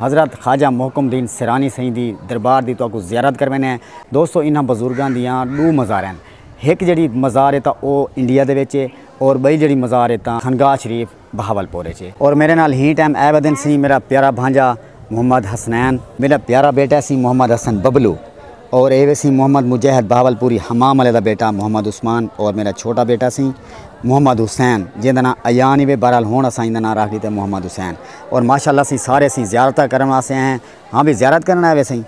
حضرت خواجہ محکم الدین سیرانی سئیں دی دربار دی تہاکوں زیارت کرویندے ہیں۔ دوستو انہاں بزرگاں دیاں ݙو مزار ہن۔ ہک جیڑھی مزار ہے تاں او انڈیا دے وچ ہے اور ٻئی جیڑھی مزار ہے تاں خانقاہ شریف بہاولپور وچ ہے۔ اور میݙے نال ہی ٹائم اے ودن سی میݙا پیارا بھانڄا محمد حسنین۔ میݙا پیارا بیٹا سی محمد حسن ببلو۔ اور اے وے سیں محمد مجہد بہاولپوری حمام والے دا بیٹا محمد عثمان اور میرا چھوٹا بیٹا سیں محمد حسین جیندا ناں ایان ہی وے بہرحال ہن اساں ایندا ناں راکھ ڈیتا محمد حسین اور ماشاءاللہ اسیں سارے سیں زیارتاں کرن واسطے آئے ہیں ہاں وی زیارت کرن آئے وے سیں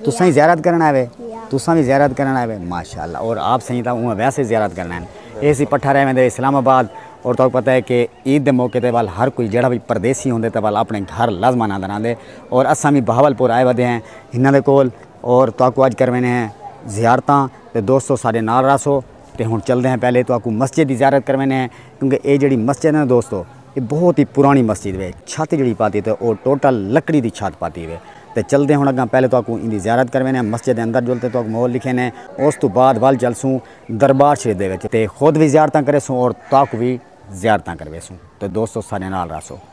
تساں وی زیارت کرن آئے وے تساں وی زیارت کرن آئے وے ماشاءاللہ اور آپ سیں تاں اوہ ویسے زیارت کرن آئے ہیں اے سی پٹھا رہے ویندے اسلام آباد اور تاں پتہ ہے کہ عید دے موقع تے وال ہر کوئی جڑا وی پردیسی ہوندے تے وال اپنے گھر لازمان آندر آندے اور اساں وی بہاولپور آئے ودے ہیں انہاں دے کول اور تہاکوں اج کرویندے ہیں زیارتاں تے دوستو ساڈے نال رہسو تے ہن چلدے ہیں پہلے تہاکوں مسجد دی زیارت کرویندے ہیں کیونکہ اے جیڑھی مسجد ہے نا دوستو اے بہت ہی پرانی مسجد ہے چھت جیڑھی پاتی تے او ٹوٹل لکڑی دی چھت پاتی ہے تے چلدے ہن اگاں پہلے تہاکوں ایندی زیارت کرویندے ہیں مسجد دے اندر جل تے تہاکوں ماحول ڈکھیندے ہیں اس توں بعد ول چلسوں دربار شریف دے وچ تے خود وی زیارتاں کریسوں اور تہاکوں وی زیارتاں کرویسوں تے دوستو ساڈے نال رہسو۔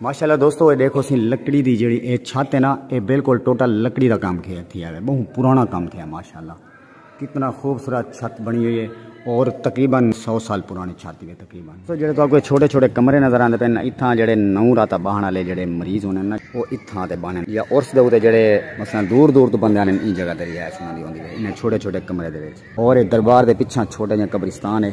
ماشاءاللہ دوستو اے دیکھو سی لکڑی دی جڑی اے چھت ہے نا اے بالکل ٹوٹل لکڑی دا کام کیا تھی ہے بہت پرانا کام کیا ماشاءاللہ کتنا خوبصورت چھت بنی ہوئی ہے اور تقریبا سو سال پرانی چھت ہے تقریبا تو جڑے تو کوئی چھوٹے چھوٹے کمرے نظر آندے پن اتھا جڑے نو رات باہن والے جڑے مریض ہونے نا وہ اتھا تے باہن یا اور سے دے جڑے مثلا دور دور تو بندے آنے ان جگہ دے رہائش ہوندی ہوندی ہے انہیں چھوٹے چھوٹے کمرے دے وچ اور دربار دے پیچھے چھوٹے جے قبرستان ہے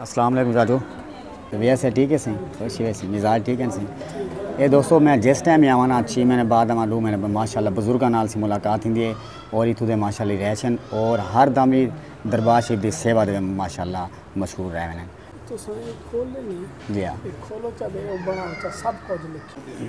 السلام علیکم زادو ویسے سے ٹھیک ہے سی خوشی ویسی مزاج ٹھیک ہے سی اے دوستو میں جس ٹائم ہی آوانا چھ مہینے بعد آواں دو مہینے بعد ماشاءاللہ بزرگاں نال سی ملاقات ہوندی ہے اور اتھوں دے ماشاءاللہ رہشن اور ہر دم ہی دربار شریف دی سیوا دے ماشاءاللہ مشغول رہ ویندے تساں اے کھول لینی جی ہاں اے کھولو چا دے او بناو چا سب کچھ لکھے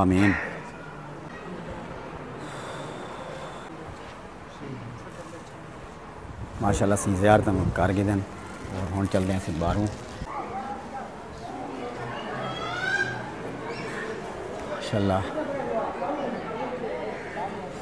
آمین۔ ماشاءاللہ اسی زیارتاں نوں کر گھدن اور ہن چلدے ہیں اسی باہروں ماشاءاللہ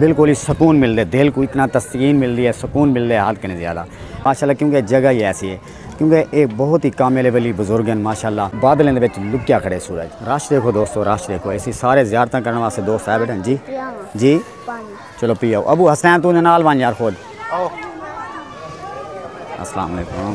دل کو ہی سکون مل دے دل کو اتنا تسکین مل دی ہے سکون مل دے حد کنے زیادہ ماشاء اللہ کیونکہ جگہ ہی ایسی ہے کیونکہ ایک بہت ہی کامل ولی بزرگ ہیں ماشاء اللہ بادلیں دے وچ لکیا کھڑے سورج رش دیکھو دوستو رش دیکھو ایسی سارے زیارتاں کرنے واسطے دوست آئے بیٹھے جی جی چلو پی آؤ ابو حسین تو نال وان یار خود السلام علیکم